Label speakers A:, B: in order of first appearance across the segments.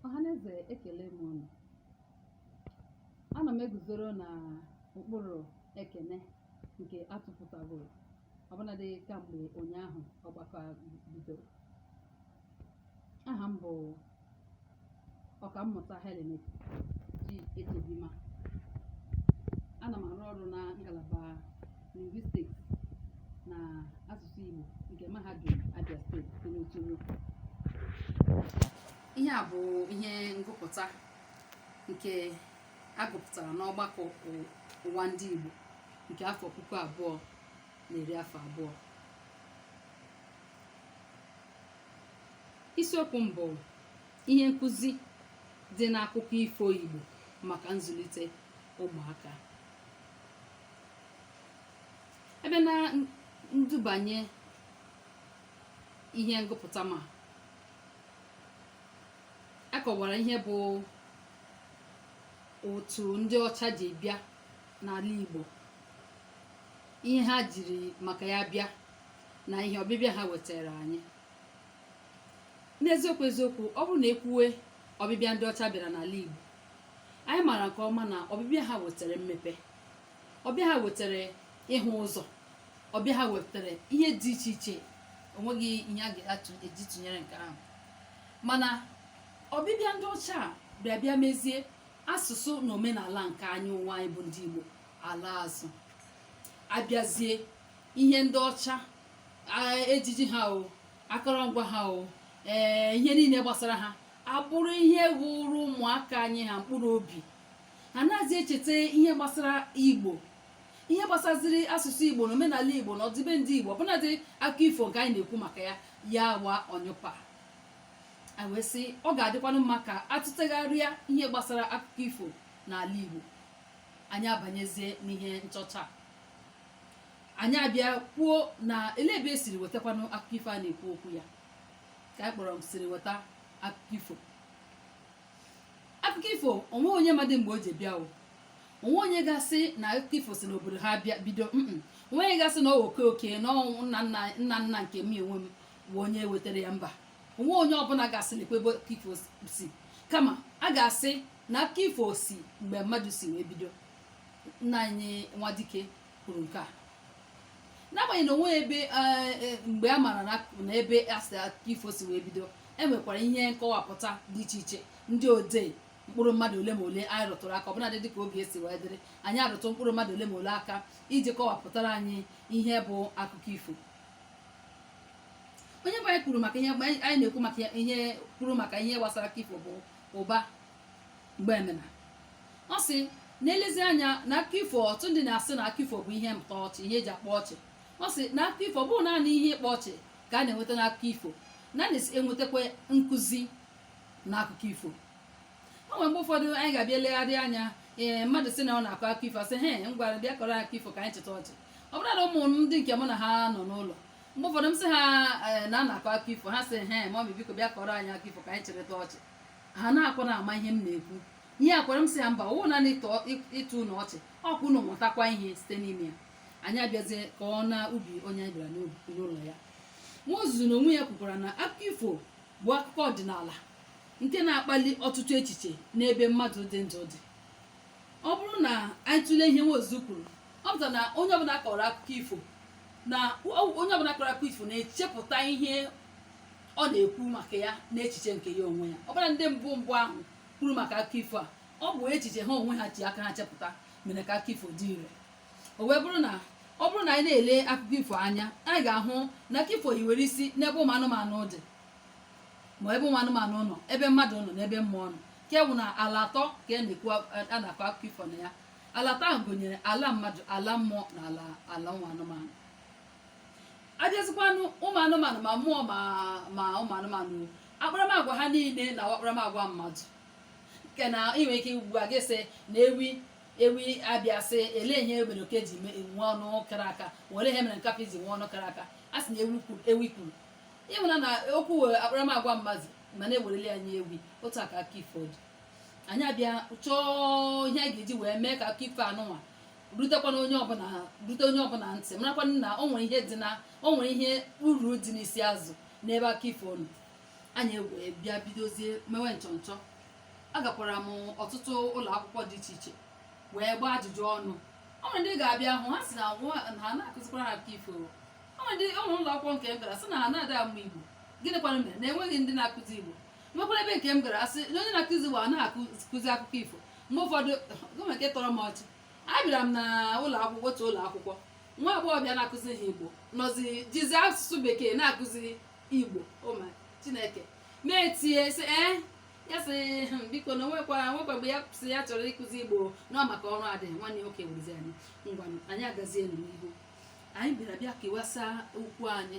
A: ọhaneze ekele m unu ana m eguzoro na ụkpụrụ ekene nke atụpụtagoro ọbụnadị kamgbe ụnyaahụ ọgbakọ a bidoro aha m bụ ọkammụta Helen Echebima ana m arụ ọrụ na ngalaba lingwistiks na asụsụ Igbo nke mahadum Abia steeti dị n'Uturu ihe a bụ ihe ngụpụta nke agụpụtara n'ọgbakọ ụwa ndị Igbo nke afọ puku abụọ na iri afọ abụọ isiokwu m bụ ihe nkụzi dị n'akụkọ ifo Igbo maka nzụlite ụmụaka ebe na ndubanye ihe ngụpụta m a kọwara ihe bụ otu ndị ọcha ji bịa n'ala Igbo ihe ha jiri maka ya bịa na ihe ọbịbịa ha wetara anyị n'eziokwu eziokwu ọ bụrụ na ekwuwe ọbịbịa ndị ọcha bịara n'ala Igbo anyị maara nke ọma na ọbịbịa ha wetara mmepe ọbịa ha wetara ịhụ ụzọ ọbịa ha wetara ihe dị iche iche onweghị ihe a ga-eji tụnyere nke ahụ mana ọbịbịa ndị ọcha a bịa bịa mezie asụsụ na omenala nke anyị wa anyị bụ ndị Igbo alaa azụ abịazie ihe ndị ọcha ejiji ha o akọrọngwa ha o ee ihe niile gbasara ha abụrụ ihe wụrụ ụmụaka anyị ha mkpụrụ obi ha anazị echeta ihe gbasara Igbo ihe gbasaziri asụsụ igbo na omenala igbo na ọdịbendị igbo ọbụnadị akụkọ ifo nke anyị na-ekwu maka ya ya wa ọnyụpa a wee sị ọ ga-adịkwanụ mma ka atụtegharịa ihe gbasara akụkọ ifo n'ala Igbo anyị abanyezie n'ihe nchọcha anyị abịa kwuo na ele ebe esiri wetakwanụ akụkọ ifo a na-ekwu okwu ya ka anyị kpọrọ m siri weta akụkọ ifo akụkọ ifo onwe onye madị mgbe o ji bịa o onwe onye ga-asị na akụkọ ifo si n'obodo ha bịa bido onwe onye ga-asị na oke oke na nna nna nke m onwe m wụ onye wetara ya mba o nwee onye ọbụla ga-asị lekwa ebe akụkọ ifo si kama a ga-asị na akụkọ ifo si mgbe mmadụ si wee bido nna anyị nwadike kwuru nke a n'agbanyeghị na o nwee ebe eh, eh, mgbe a maara na na ebe asị akụkọ ifo si wee bido e nwekwara ihe nkọwapụta dị iche iche ndị odee mkpụrụ mmadụ ole ma ole anyị rụtụrụ aka ọbụladị dịka oge esi wee dịrị anyị arụtụ mkpụrụ mmadụ ole ma ole aka iji kọwapụtara anyị ihe bụ akụkọ ifo onye mbụ anyị kwuru maka ihe anyị na-ekwu maka ihe kwuru maka ihe gbasara akụkọ ifo bụ ụba mgbemena ọ sị na e lezie anya na akụkọ ifo ọtụtụ ndị na-asị na akụkọ ifo bụ ihe mkpa ọchị ihe e ji akpa ọchị ọ sị na akụkọ ifo ọ bụghị naanị ihe ịkpa ọchị ka a na-enweta n'akụkọ ifo na a na-enwetakwa nkụzi na akụkọ ifo o nwere mgbe ụfọdụ anyị ga-abịa legharị anya ee eh, mmadụ sị na ọ na-akọ akụkọ ifo a sị he ngwa bịa kọrọ akụkọ ifo ka anyị chịta ọchị ọbụna ụmụ ndị nke mụ na ha nọ n'ụlọ mgbe ụfọdụ m sị ha eh, na a na-akọ akụkọ ifo ha sị he mọmi biko bịa kọrọ anyị akụkọ ifo ka anyị chịrịta ọchị ha na-akwa na ama ihe m na-ekwu ihe agwara m sị ha mba ọ wụ naanị ịtọ ụnụ ọchị ọ kwa ụnụ mụtakwa ihe site n'ime ya anyị abịazie ka ọ na ubi onye anyị bịara n'ụlọ ya nwaozuzu na onwe ya kwukwara na akụkọ ifo bụ akụkọ ọdịnala nke na-akpali ọtụtụ echiche n'ebe mmadụ dị ndụ dị ọ bụrụ na anyị tụlee ihe nwaozuzu kwuru ọ pụtara na onye ọbụla kọrọ akụkọ ifo na onye ọbụla kọrọ akụkọ ifo na-echepụta ihe ọ na-ekwu maka ya n'echiche nke ya onwe ya ọbụladị ndị mbụ mbụ ahụ kwuru maka akụkọ ifo a ọ bụ echiche ha onwe ha ji aka ha chepụta mere ka akụkọ ifo dị ire o wee bụrụ na ọ bụrụ na anyị na-ele akụkọ ifo anya anyị ga-ahụ na akụkọ ifo hiwere isi n'ebe ụmụ anụmanụ dị ma ebe ụmụ anụmanụ nọ ebe mmadụ nọ na ebe mmụọ nọ nke bụ na ala atọ ka a na-ekwu a na-akọ akụkọ ifo na ya ala atọ ahụ gụnyere ala mmadụ ala mmụọ na ala ala ụmụ anụmanụ abịazikwanụ ụmụ anụmanụ ma mmụọ ma ma ụmụ anụmanụ akparamagwa ha niile na-awụ akparamagwa mmadụ nke na ị nwere ike ugbu a gị sị na ewi ewi abịa sị elee ihe mere oke ji me- nwe ọnụ kara aka elee ihe mere nkapị ji nwe ọnụ kara aka a sị na ewi kwuru ewi kwuru ị mara na okwu were akparamagwa mmadụ mana e werele ya nye ewi otu a ka akụkọ ifo dị anyị abịa chọọ ihe a ga-eji wee mee ka akụkọ ifo anụnwa rutekwana onye ọbụla rute onye ọbụla ntị marakwana na o nwere ihe dị na o nwere ihe uru dị n'isi azụ n'ebe akụkọ ifo nọ anyị wee bịa bidozie mewe nchọnchọ agakwara m ọtụtụ ụlọ akwụkwọ dị iche iche wee gbaa ajụjụ ọnụ o nwere ndị ga-abịa hụ ha sị na nwa- na ha na-akụzikwara ha akụkọ ifo o nwere ụlọ akwụkwọ nke m gara sị na ha na-ada amụ igbo gịnị kwanụ mere na enweghị ndị na-akụzi igbo nwekwara ebe nke m gara asị na onye na-akụzi igbo a na-akụzi akụkọ ifo mgbe ụfọdụ gọọmenti nke tọrọ m ọchị abịara m na ụlọ akwụkwọ otu ụlọ akwụkwọ nwa agbọghọ bịa na-akụzi ha igbo nọzi jizi asụsụ bekee na-akụzi igbo ụma oh chineke na-etinye sị ee eh, ya sị hmm, biko na nwekwa nwekwa mgbe ya sị ya chọrọ ịkụzi igbo na ọ maka ọrụ adịghị nwanne nwoke wụrụzi anyị ngwa anyị agazie n'ihu anyị bịara bịa kewasa okwu anyị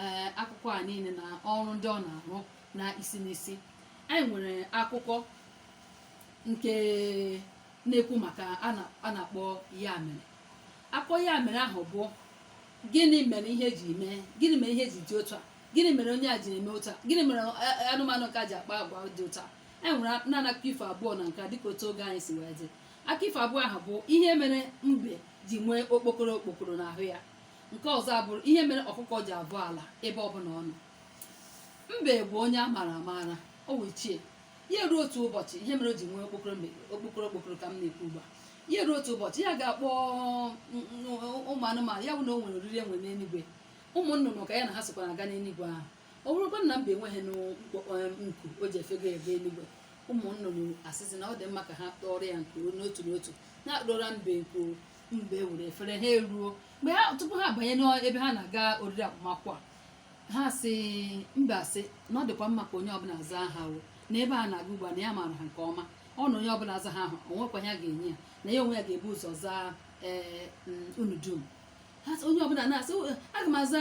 A: ee eh, akụkọ a niile na ọrụ ndị ọ na-arụ na isi n'isi anyị nwere akụkọ nke na-ekwu maka a na-akpọ ya mere akụkọ ya mere ahụ bụ gịnị mere ihe ji mee gịnị mere ihe ji dị otu a gịnị mere onye a ji eme otu a gịnị mere eh, eh, anụmanụ nke a ji akpa agwa dị otu a anyị nwere naanị akụkọ ifo abụọ na nke a dịka otu oge anyị si wee dị akụkọ ifo abụọ ahụ bụ ihe mere mbe ji nwee okpokoro okpokoro n'ahụ ya nke ọzọ abụrụ ihe mere ọkụkọ ji abọ ala ebe ọbụla ọ nọ mbe bụ onye a maara amaara o wee chie ya ruo otu ụbọchị ihe mere o ji nwee okpokoro mbe okpokoro okpokoro ka m na-ekwu ugbu a ya ruo otu ụbọchị ya ga-akpọ mm, mm, ụmụ anụmanụ ya bụ na o nwere oriri e nwere n'eluigwe ụmụ nnụnụ ka ya na ha sokwa na-aga n'eluigwe ahụ ọ bụrụkwa na mbe enweghị nku o ji efego ebe eluigwe ụmụ nnụnụ asịzi na ọ dị mma ka ha tụọrọ ya nku n'otu n'otu atụọrọ mbe nku mbe ewere fere ha eruo mgbe ha tupu ha abanye n'ebe ha na-aga oriri agbamakwụkwọ ha sị mbe asị na ọ dịkwa mma ka onye ọbụla zaa aha n'ebe a na-aga ugbu a na ya maara ha nke ọma ọ na onye ọbụla zaa aha ahụ o nwekwa ya ga-enye ya na ya onwe ya ga-ebu ụzọ zaa ee eh, mm, unu dum onye ọbụla na-asị aga m aza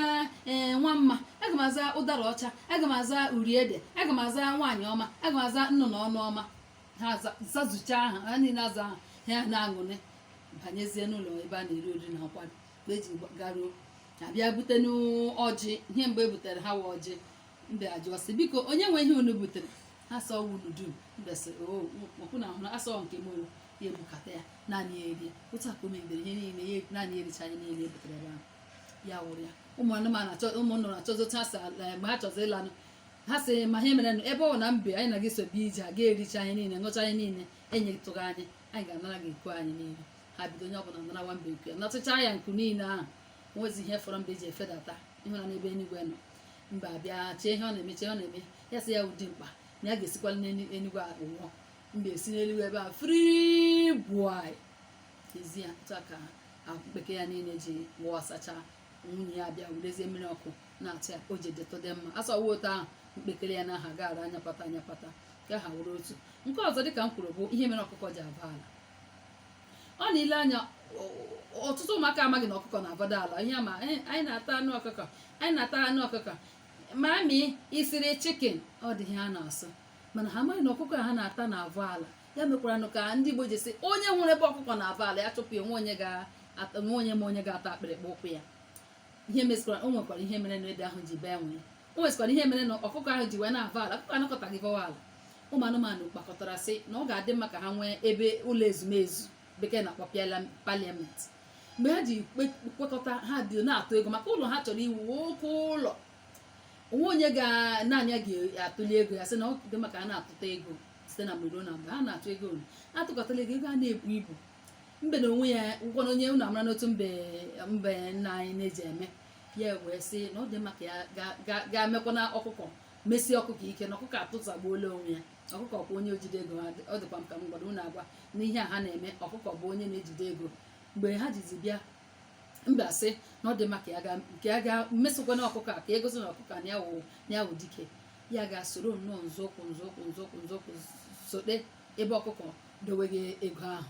A: eh, nwa mma aga m aza ụdara ọcha aga m aza uri ede aga m aza nwaanyị ọma aga m aza nnụnụ ọnụ ọma ha zazucha aha ha niile aza aha ha na-aṅụrị banyezie n'ụlọ ebe a na-eri oriri na nkwari mgbe e ji garuo a bịa butenụ ọjị ihe mgbe e butere ha wa ọjị mbe ajụọ sị biko onye nwe ihe unu butere asị ọ wụ unu dum mbe sị ọkwa unu ahụ asị ọ nke m ya ebukọta ya naanị ya erie otu a ka o megidere ihe niile ya naanị ya ericha ihe niile ebutere ebe ahụ ya wụrụ ya ụmụ anụmanụ achọ ụmụ nnụnụ achọzi otu ha si ala mgbe ha chọzi ịlanụ ha sị ma ihe mere nụ ebe ọ na mbe anyị na gị so bịa ije a gị ericha ihe niile ṅụcha ihe niile enyetụghị anyị anyị ga-anara gị nku anyị niile ha bido onye ọbụla narawa mbe nku ya natụcha ya nku niile ahụ nwezi ihe fọrọ mbe ji efedata ịhụna n'ebe eluigwe nọ mbe abịa chee ihe ọ na-eme chee ọ na-eme ya sị ya ụdị mkpa na ya ga-esikwala n'eluigwe wụọ mbe esi n'eluigwe ebe a free boy ezi ya tụọ ka mkpekere ya niile ji wụọ sacha nwunye ya bịa werezie mmiri ọkụ na-atụ ya o ji detode mma asọwa otu ahụ mkpekere ya na aha gaara anyapata anyapata ka ha wụrụ otu nke ọzọ dịka m kwuru bụ ihe mere ọkụkọ ji abọ ala ọ na-ele anya ọtụtụ ụmụaka amaghị na ọkụkọ na-abọdụ ala ihe ma anyị na-ata anụ ọkụkọ anyị na-ata anụ ọkụkọ mummy i siri chicken ọ dị ihe ha na-asụ mana ha amaghị na ọkụkọ ha na-ata na-avọ ala ya mekwaranụ ka ndị Igbo ji sị onye hụrụ ebe ọkụkọ na-avọ ala ya chụpụ ya o nweghị onye ma onye ga-ata akpịrịkpa ụkwụ ya ihe mezikwara o nwekwara ihe mere na ede ahụ ji bee nwịị o nwezikwara ihe mere na ọkụkọ ahụ ji wee na-avọ ala ọkụkọ anọkataghị vọwa ala ụmụ anụmanụ kpakọtara sị na ọ ga-adị mma ka ha nwee ebe ụlọ ezumezu bekee na-akpọ parliament mgbe ha ji kwekọta ha dị na-atụ ego maka ụlọ ha chọrọ iwu oke ụlọ o nweghị onye naanị ya ga-atụli ego ya sị na ọ dị mma ka a na-atụta ego site na mgbe ruo na mgbe a na-atụ ego unu atụkọtala ego ego a na-ebu ibu mbe na onwe ya ụgwọ na onye unu amara n'otu mbe mbe nna anyị na-eji eme ya wee sị na ọ dị mma ka ya ga mekwa na ọkụkọ mesie ọkụkọ ike na ọkụkọ atụtagbuola onwe ya ọkụkọ bụ onye ojide ego ọ dịkwa m ka m gwara unu agwa n'ihe a ha na-eme ọkụkọ bụ onye na-ejide ego mgbe ha jizi bịa mbe sị na ọ dị mma ka ya ga mesokwana ọkụkọ a ka e gosi na ọkụkọ na ya wụ dike ya ga soro nnọọ nzọụkwụ nzọụkwụ nzọụkwụ nzọụkwụ sote ebe ọkụkọ dowegha ego ahụ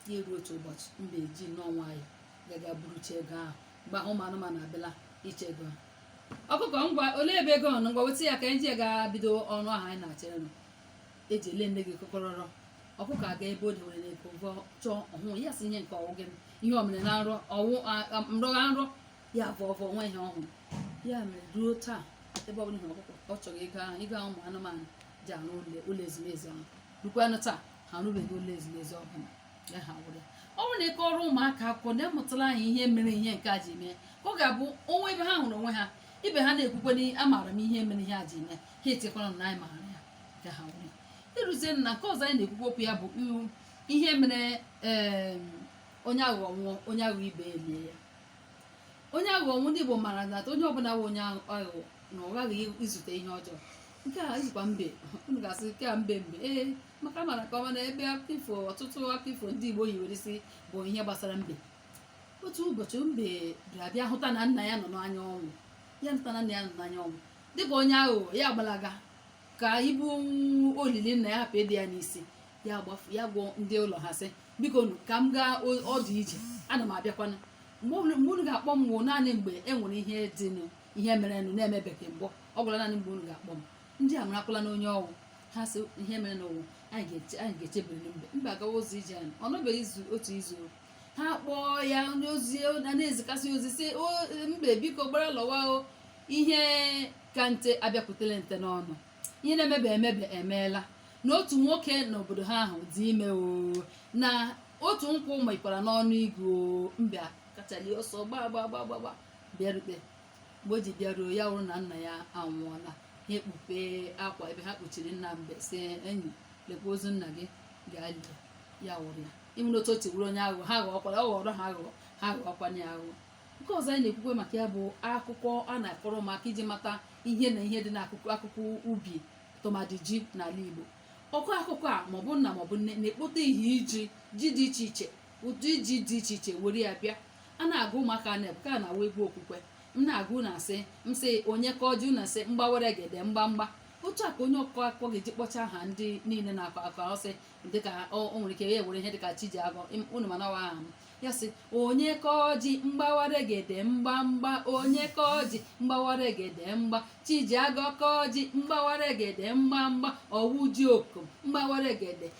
A: ya eruo otu ụbọchị mbe eji nnọọ nwayọ gaga burucha ego ahụ mgbe ahụ ụmụ anụmanụ abịala ịchọ ego ahụ ọkụkọ ngwa olee ebe ego nọ ngwa weta ya ka e ji ga bido ọrụ ahụ anyị na-achọ ịrụ eji ele nne gị kọkọrọrọ ọkụkọ aga ebe o dewere na ego vọọ chọọ ọ hụghị ya sị ihe nke ọ wụghị ihe o mere na nrọ ọ wụ m rọgha nrọ ya vọọ vọọ o nweghị ihe ọ hụrụ ya mere ruo taa ebe ọ bụla ị hụrụ ọkụkọ ọ chọrọ ego ahụ ego ụmụ anụmanụ ji arụ ụlọ ezumezu ahụ ruokwanụ taa ha arụbeghị ụlọ ezumezu ọbụla ọ bụrụ na ị kọrọ ụmụaka akụkọ ha amụtalanụ ihe mere ihe nke a ji mee ka ọ ga-abụ o nwee ebe ha hụrụ onwe ha ibe ha na-ekwukwa na amaara m ihe mere ihe a ji mee ha echekwara na anyị maara ya ka ha were e ruzie na nke ọzọ anyị na-ekwukwa okwu ya bụ ihe mere onye aghụghọ nwụọ onye aghụghọ ibe elie ya onye aghụghọ nwụ ndị Igbo maara na onye ọbụla bụ onye aghụghọ na ọ ghaghị izute ihe ọjọọ nke a wụzikwa mbe unu ga-asị nke a mbe mbe ee maka mara nke ọma na ebe akụkọ ọtụtụ akụkọ ndị Igbo hiwere isi bụ ihe gbasara mbe otu ụbọchị mbe abịa hụta na nna ya nọ n'anya ọnwụ ya hụta na nna ya nọ n'anya ọnwụ dịka onye aghụghọ ya gbalaga ka ibu olili nna ya hapụ ịdị ya n'isi ya gbafu ya gwa ndị ụlọ ha sị biko ka m gaa ọdụ ije ana m abịakwana mgbe unu ga-akpọ m wụ naanị mgbe e nwere ihe dịnụ ihe merenụ na-emebeghị mbụ ọ wụla naanị mgbe unu ga-akpọ m ndị a marakwala nụ onye ọ wụ ha sị ihe merenụ wụ anyị ga-echebiri mbe mbe agawazi ije anyị ọ nọbeghị izu otu izu ha kpọọ ya onye ozi na na-ezikasị ozi sị mbe biko gbara lọwa o ihe ka nte abịakwutela nte n'ọnụ ihe na-emebe emebe emeela na otu nwoke n'obodo ha ahụ dị ime o na otu nkwụ mịkwara n'ọnụ igu mbe kachali ọsọ gbaa gbaa gbaa gbaa bịarute mgbe o ji bịaruo ya wụrụ na nna ya anwụọla ha ekpupe akwa ebe ha kpuchiri nna mbe sị enyi lekwa ozu nna gị gaa lie ya wụrụ ya ịhụrụ otu o ji wụrụ onye aghụghọ ha ghọọkwara ọ ghọrọ ha aghụghọ ha ghọọkwanye ya aghụghọ nke ọzọ anyị na-ekwukwe maka ya bụ akụkọ a na-akọrọ maka iji mata ihe na ihe dị n'akụkụ akụkụ ubi tụmadị ji n'ala Igbo ọkọ akụkọ a maọbụ nna maọbụ nne na-ekpote ihe iji ji dị iche iche ụdị ji dị iche iche were ya bịa a na-agụ ụmụaka n'egwu ka na-awụ egwu okwukwe m na-agụ na-asị m sị onye kaa ji na-asị mgbawere gede mgbamgba otu a ka onye ọkọ akụkọ ga-eji kpọcha aha ndị niile na-akọ akọ ọ sị dịka o nwere ike ya were ihe dịka chijiagọ unu ma na ọ wụ aha m ya sị onye kaa ji mgbawere gede mgbamgba onye kaa ji mgbawere gede mgba chijiagọ kaa ji mgbawere gede mgbamgba ọ wụ ji okom mgbawere gede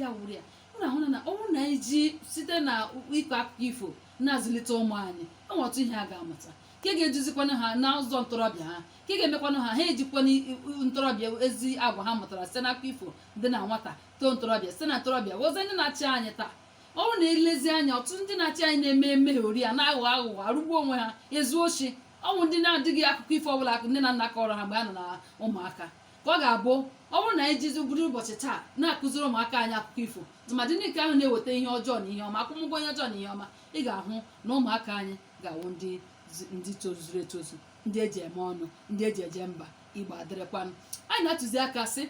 A: ya wụrụ ya unu ahụ na ọ bụrụ na anyị ji site na ịkọ akụkọ ifo na-azụlite ụmụ anyị o nwe ọtụtụ ihe ha ga-amụta nke ga-eduzikwana ha n'ụzọ ntorobịa ha nke ga-emekwanụ ha ha ejikwana ntorobịa ezi agwa ha mụtara site n'akụkọ ifo dị na nwata too ntorobịa site na ntorobịa wụzie ndị na-achị anyị taa ọ bụrụ na e lezie anya ọtụtụ ndị na-achị anyị na-eme emeghe ori a na-aghọ aghụghọ arụgbu onwe ha ezu oshi ọ wụ ndị na-adịghị akụkọ ifo ọbụla nne na nna kọrọ ha mgbe ha nọ na ụmụaka ka ọ ga-abụ ọ bụrụ na anyị jizi bido ụbọchị taa na-akụziri ụmụaka anyị akụkọ ifo tụmadị ndị nke ahụ na-eweta ihe ọjọọ na ihe ọma akwụmụgwọ ihe ọjọọ na ihe ọma ị ga-ahụ na ụmụaka anyị ga-awụ ndị ndị tozuru etozu ndị e ji eme ọnụ ndị e ji eje mba igbo adịrịkwanụ anyị na-atụzi aka sị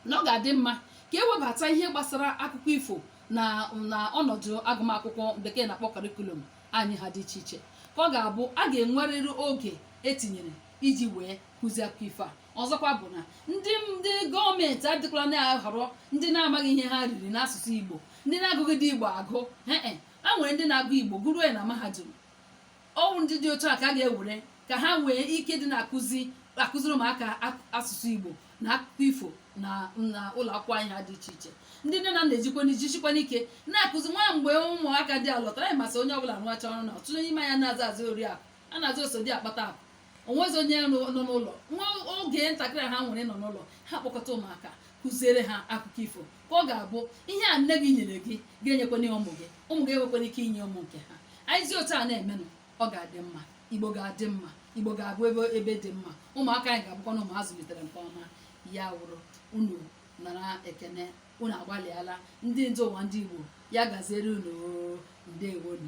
A: na ọ ga-adị mma ka e webata ihe gbasara akụkọ ifo na na ọnọdụ agụmakwụkwọ bekee na-akpọ karikulum anyị ha dị iche iche ka ọ ga-abụ a ga-enwerịrị oge e tinyere iji wee kụzie akụkọ ifo a ọzọkwa bụ na ndị ndị gọọmenti adịkwala na-ahọrọ ndị na-amaghị ihe ha riri n'asụsụ igbo ndị na-agụghịdị igbo agụ ee e, a nwere ndị na-agụ igbo gụruo ya na mahadum ọ wụ ndị dị otu a ka a ga-ewere ka ha nwee ike dị na-akụzi akụziri ụmụaka ak- asụsụ igbo na akụkọ ifo na na ụlọ akwụkwọ anyị ha dị iche iche ndị nne na nna ejikwa jisikwanụ ike na-akụzi nwa mgbe ụmụaka dị alọtara anyị ma sị onye ọbụla rụacha ọrụ na ọtụtụ n'ime anyị na-aza azụ oriakụ a na-aza oso di akpata akụ o nwezi onye nọ n'ụlọ nwa oge ntakịrị ha nwere nọ n'ụlọ ha kpọkọta ụmụaka kụziere ha akụkọ ifo ka ọ ga-abụ ihe a nne gị nyere gị ga-enyekwanụ ụmụ gị ụmụ gị enwekwara ike inye ụmụ nke ha anyị si otu a na-emenụ ọ ga-adị mma igbo ga-adị mma igbo ga-abụ ebe ebe dị mma ụmụaka anyị ga-abụkwanụ ụmụ a zụlitere nke ọma ya wụrụ unu nara ekene unu agbalịala ndị ndu ụwa ndị igbo ya gaziere unu ndewonu